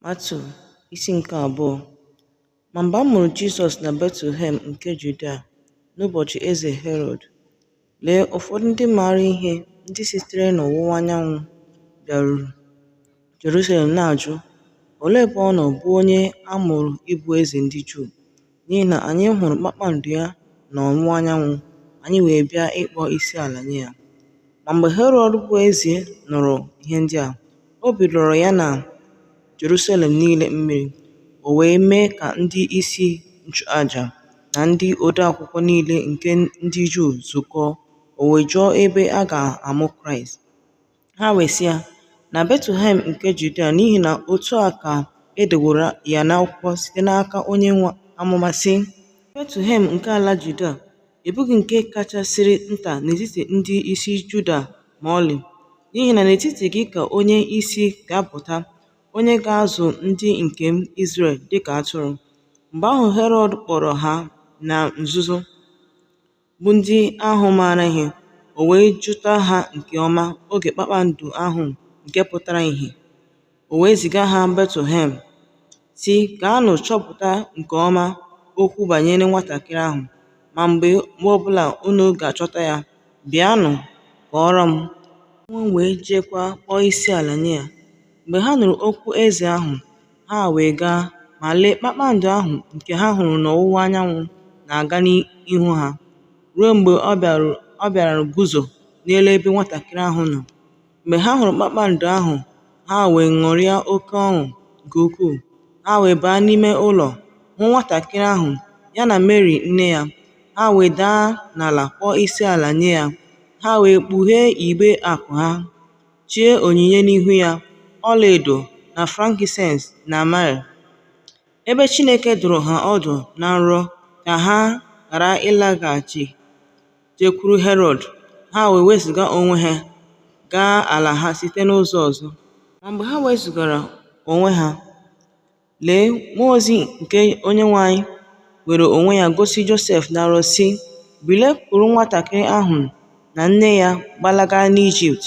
Matiu isi nke abụọ Ma mgbe a mụrụ Jizọs na Betlehem nke Judia n'ụbọchị eze Herọd, lee ụfọdụ ndị maara ihe ndị sitere n'ọwụwa anyanwụ bịaruru Jerusalem na-ajụ, Olee ebe ọ nọ bụ onye a mụrụ ịbụ eze ndị Juu? N'ihi na anyị hụrụ kpakpando ya n'ọwụwa anyanwụ, anyị wee bịa ịkpọ isi ala nye ya. Ma mgbe Herọd bụ eze nụrụ ihe ndị a, obi lọrọ ya na Jerusalem niile mmiri, o wee mee ka ndị isi nchụaja na ndị odeakwụkwọ niile nke ndị Juu zukọọ, o wee jụọ ebe a ga-amụ Kraịst. Ha wee sị ya, Na Betlehem nke Judia, n'ihi na otu a ka e deworo ya n'akwụkwọ site n'aka onye amụma, sị, Betlehem nke ala Judia, ị bụghị nke kachasịrị nta n'etiti ndị isi Juda ma ọlị, n'ihi na n'etiti gị ka onye isi ga-apụta, onye ga-azụ ndị nke m Izrel dị ka atụrụ. Mgbe ahụ Herọd kpọrọ ha na nzuzo. bụ ndị ahụ maara ihe, o wee jụta ha nke ọma oge kpakpando ahụ nke pụtara ìhè, o wee ziga ha Betlehem, sị, Gaanụ chọpụta nke ọma okwu banyere nwatakịrị ahụ, ma mgbe ọ bụla unu ga-achọta ya, bịanụ kọọrọ m, mụ onwe m wee jeekwa kpọọ isi ala nye ya. Mgbe ha nụrụ okwu eze ahụ, Ha wee gaa, ma lee, kpakpando ahụ nke ha hụrụ n'ọwụwa anyanwụ na-aga n'ihu ha, ruo mgbe ọ bịara guzo n'elu ebe nwatakịrị ahụ nọ. Mgbe ha hụrụ kpakpando ahụ, ha wee ṅụrịa oke ọṅụ nke ukwuu. Ha wee baa n'ime ụlọ, hụ nwatakịrị ahụ, ya na Meri nne ya. Ha wee daa n'ala kpọọ isi ala nye ya. Ha wee kpughee igbe akụ ha, chee onyinye n'ihu ya, ọlaedo, na frankinsens, na myrrh. Ebe Chineke dụrụ ha ọdụ na nrọ ka ha ghara ịlaghachi jekwuru Herọd, ha wee wezụga onwe ha gaa ala ha site n'ụzọ ọzọ. Ma mgbe ha wezụgara onwe ha, Lee, mmụọ ozi nke Onyenwe anyị were onwe ya gosi Josef na nrọ, sị, Bilie, kuru nwatakịrị ahụ na nne ya gbalaga n'Ijipt,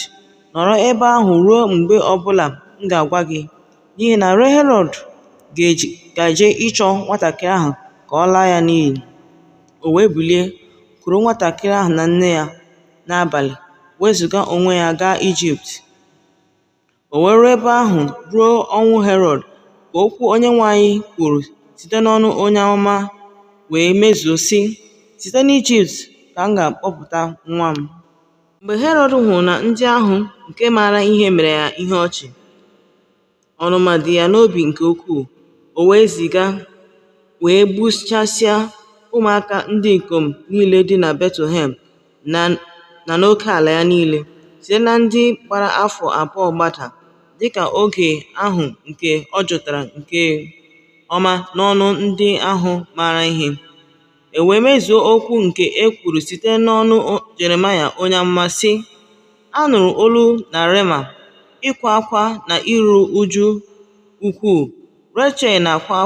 nọrọ ebe ahụ ruo mgbe ọ bụla m ga-agwa gị, n'ihi na Herọd gaje ịchọ nwatakịrị ahụ ka ọ laa ya n'iyi. O wee bilie, kuru nwatakịrị ahụ na nne ya n'abalị, wezụga onwe ya gaa Ijipt. O wee ruo ebe ahụ ruo ọnwụ Herọd ka okwu Onyenwe anyị kwuru site n'ọnụ onye amụma wee mezuo, sị, Site n'Ijipt ka m ga-akpọpụta nwa m. Mgbe Herọd hụrụ na ndị ahụ nke maara ihe mere ya ihe ọchị, ọnụma dị ya n'obi nke ukwuu, o wee ziga wee gbuchasịa ụmụaka ndị ikom niile dị na Betlehem na n'oke ala ya niile, site na ndị gbara afọ abụọ gbada, dịka oge ahụ nke ọ jụtara nke ọma n'ọnụ ndị ahụ maara ihe, e wee mezuo okwu nke e kwuru site n'ọnụ Jeremaya onye amụma, sị, A nụrụ olu na Rema, ịkwa akwa na iru uju ukwuu, Rechel na-akwa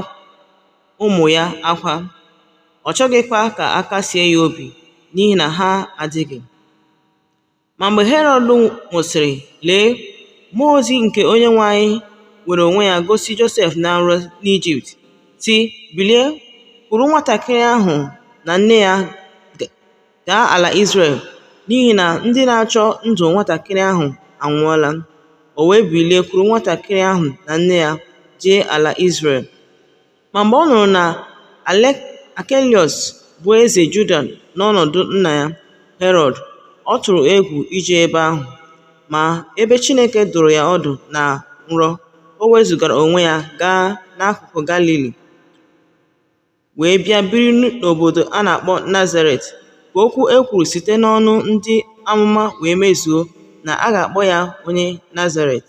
ụmụ ya akwa, ọ chọghịkwa ka a kasie ya obi n'ihi na ha adịghị. Ma mgbe Herọd nwụsịrị, lee, mmụọ ozi nke Onyenwe anyị were onwe ya gosi Josef na nrọ n'Ijipt, sị, Bilie, kuru nwatakịrị ahụ na nne ya Gaa ala Izrel, n'ihi na ndị na-achọ ndụ nwatakịrị ahụ anwụọla. O wee bilie kuru nwatakịrị ahụ na nne ya jee ala Izrel. Ma mgbe ọ nụrụ na Akeliọs bụ eze Juda n'ọnọdụ nna ya, Herọd, ọ tụrụ egwu ije ebe ahụ. Ma ebe Chineke dụrụ ya ọdụ na nrọ, o wezụgara onwe ya gaa n'akụkụ Galili. wee bịa biri n'obodo a na-akpọ Nazaret, ka okwu e kwuru site n'ọnụ ndị amụma wee mezuo, na a ga-akpọ ya onye Nazaret.